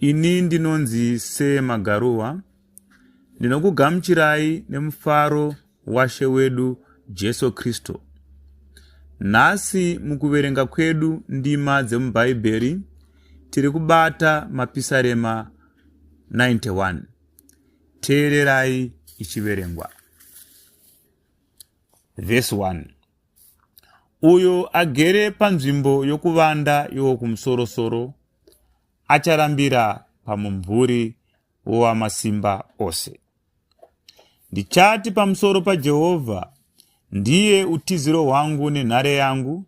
Ini ndinonzi Sir Magaruwa. Ndinokugamuchirai nemufaro washe wedu Jesu Kristu. Nhasi mukuverenga kwedu ndima dzemuBhaibheri tiri kubata mapisarema 91. Teererai ichiverengwa. Verse 1. uyo agere panzvimbo yokuvanda iwo kumusorosoro acharambira pamumvuri wowamasimba ose. Ndichati pamusoro paJehovha, ndiye utiziro hwangu nenhare yangu,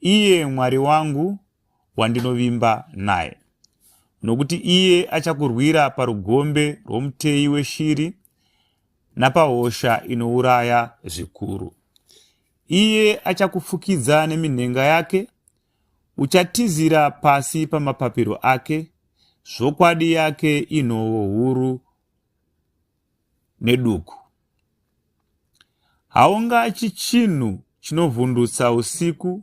iye Mwari wangu, wandinovimba naye, nokuti iye achakurwira parugombe rwomuteyi weshiri napahosha inouraya zvikuru. Iye achakufukidza neminhenga yake, uchatizira pasi pamapapiro ake, zvokwadi yake inhovo huru neduku. Haungatyi chinhu chinovhundutsa usiku,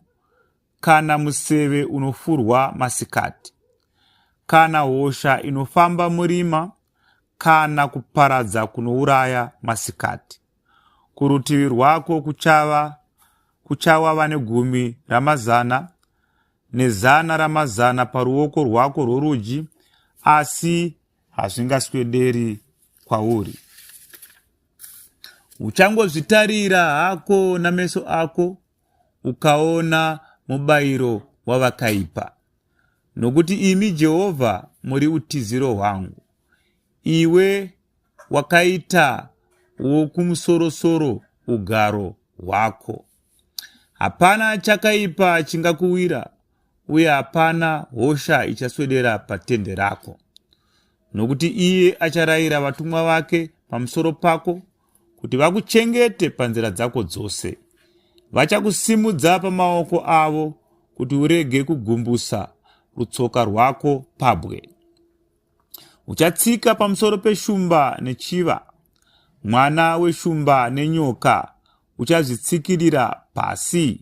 kana museve unofurwa masikati, kana hosha inofamba murima, kana kuparadza kunouraya masikati. Kurutivi rwako kuchava kuchawa vane gumi ramazana nezana ramazana paruoko rwako rworudyi, asi hazvingaswederi kwauri uchangozvitarira hako nameso ako ukaona mubayiro wavakaipa nokuti imi jehovha muri utiziro hwangu iwe wakaita wokumusorosoro ugaro hwako hapana chakaipa chingakuwira uye hapana hosha ichaswedera patende rako, nokuti iye acharayira vatumwa vake pamusoro pako kuti vakuchengete panzira dzako dzose. Vachakusimudza pamaoko avo kuti urege kugumbusa rutsoka rwako pabwe. Uchatsika pamusoro peshumba nechiva, mwana weshumba nenyoka uchazvitsikirira pasi.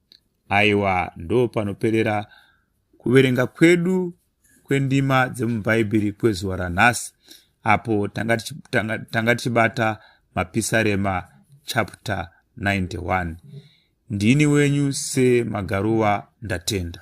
Aiwa, ndopanoperera kuverenga kwedu kwendima dzemubhaibheri kwezuva ranhasi apo tanga tichibata mapisarema chapter 91 ndini wenyu semagaruva ndatenda